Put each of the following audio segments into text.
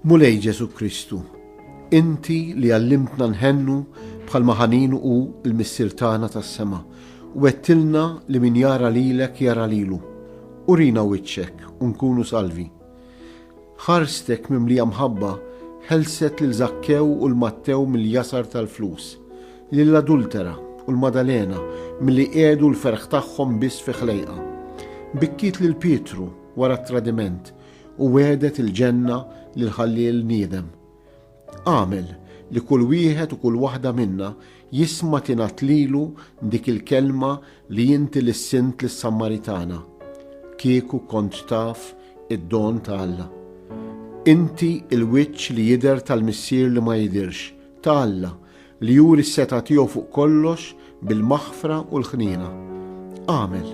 Mulej Ġesu Kristu, Inti li għallimtna nħennu bħal maħanin u l-Missir tagħna tas-sema, u għettilna li min jara lilek jara lilu. Urina wiċċek u nkunu salvi. Ħarstek mimlija mħabba ħelset lil Żakkew u 'l Mattew mill-jasar tal-flus, lill-adultera u l-Madalena milli qiegħdu l-ferħ tagħhom biss fi ħlejqa. Bikkiet lil Pietru wara t-tradiment u wegħdet il-ġenna lil ħalliel niedem. Agħmel li kull wieħed u kull waħda minna jisma' tingħad lilu dik il-kelma li inti lissint lis-Sammaritana, Kieku kont taf id-don ta' Alla. Inti l-wiċċ li jidher tal-Missier li ma jidhirx, ta' Alla, Li juri s-setgħa tiegħu fuq kollox bil-maħfra u l-ħniena. Agħmel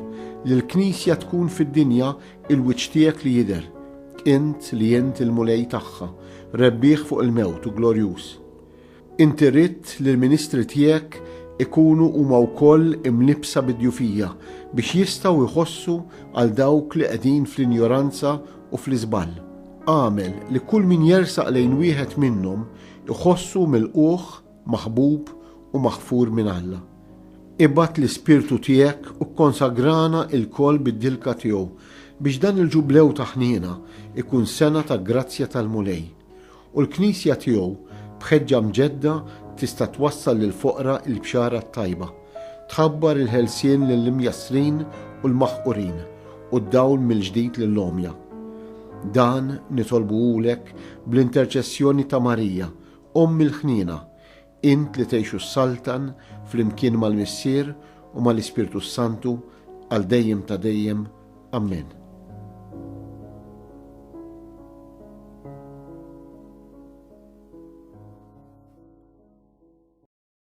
li l-Knisja tkun fid-dinja il-wiċċ tiegħek li jidher, int li int il-Mulej tagħha, rebbieħ fuq il-mewt u glorjuż. Inti ridt li l-ministri tiegħek ikunu huma wkoll imlibbsa bid-djufija biex jistgħu jħossu għal dawk li qegħdin fl-injoranza u fl-iżball. Agħmel li kull min jersaq lejn wieħed minnhom Iħossu milqugħ, maħbub u maħfur minn Alla. Ibgħat l-Ispirtu tiegħek u kkonsagrana ilkoll bid-dilka tiegħu biex dan il-Ġublew ta' ħniena jkun sena ta' grazzja tal-Mulej. U l-Knisja tiegħu b'ħeġġa mġedda tista' twassal lill-foqra il-Bxara t-Tajba. Tħabbar il-ħelsien lill-imjassrin u l-maħqurin u d-dawl mill-ġdid lill-għomja. Dan nitolbuhulek bl-interċessjoni ta' Marija, Omm il-Ħniena, int li tgħixu s-Saltan flimkien mal-Missier u mal-Ispirtu s-Santu għal dejjem ta' dejjem. Ammen.